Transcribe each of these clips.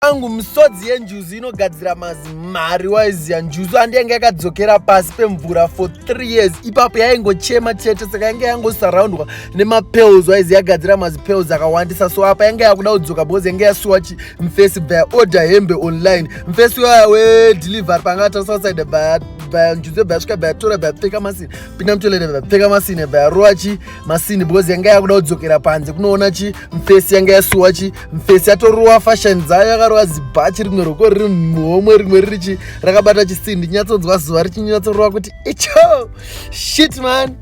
angu misodzi yenjuzu inogadzira mazimari waiziya njuzu handi yange yakadzokera pasi pemvura for three years ipapo yaingochema chete saka yange yangosurroundwa nemapels waizi yagadzira mazipels akawandisa so apa yange yakuda kudzoka because yange yasuwa chi mfesi baya order hembe online mfesi waya wedelivery panga atasasaide baya baya njuzu baya svika baya tora baya pfeka masini pinda mutolere baya pfeka masini baya rowa chi masini because yange yakuda kudzokera panze kunoona chi mfesi yange yasuwa chi mfesi yatorowa fashion dzayo yakarova zibhachi rimwe roko riri muhomwe rimwe ririchi rakabata chisindi nyatsonzwa zuva richinyatsorowa kuti icho shit man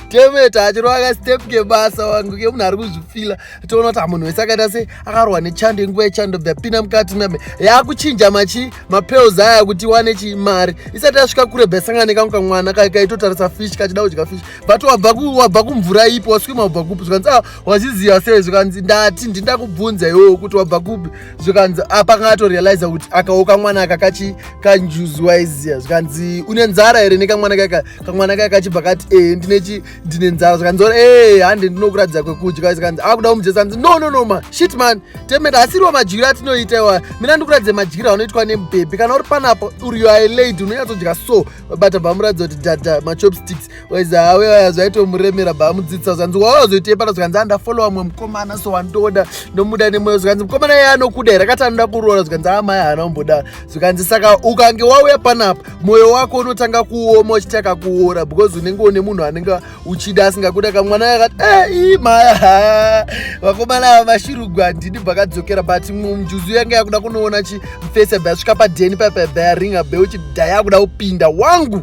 temeta achirova kastep kebasa wangu kemunhu ari kuzvifila toona kuti amunhu wese akaita se akarohwa nechando inguva yechando bvapinda mukati mame yakuchinja machi mapels aya kuti wane chii mari isati yasvika kure bhesangane kangu kamwana kaitotarisa fish kachida kudya fish but wabva kumvura ipo waswima wabva kupi zvikanzi a ah, wazviziva sei zvikanzi ndati ndindakubvunza iwewo kuti wabva kupi zvikanzi apa ah, kangatorealiza kuti akawo kamwana aka kachi kanjuzi waiziva zvikanzi une nzara here nekamwana kaka kamwana kaka kachibva kati ee eh, ndinechi ndine nzara zvikanzi ora ee eh, hande ndinokuratidza kwekudya zvikanzi akuda ah, kumujesa anzi no no no ma shit man temenda asiriwo madyiro atinoita iwa mina ndikuratidza madyiro anoitwa nemubhebhi kana uri panapo uriyo ailady unonyatsodya so vabata bvamuratidza kuti dada machopsticks waiza hawe vaya zvaitomuremera bvamudzidzisa zvanzi wawazoita ipara zvikanzi andafollowa ah, mwe mukomana so wandoda ndomuda nemoyo zvikanzi mukomana iye anokuda here akati anoda kuroora zvikanzi amai ah, haana kumboda zvikanzi saka ukange wauya panapa moyo wako unotanga kuoma uchiti akakuora because unenge une munhu anenge uchida asingakuda kamwana yakati ei eh, maya vakomana ava vashirugwa ndini bvakadzokera but mjuzu yanga yakuda kunoona chimfese bhasvika padheni papabayaringa beuchi dha yakuda kupinda wangu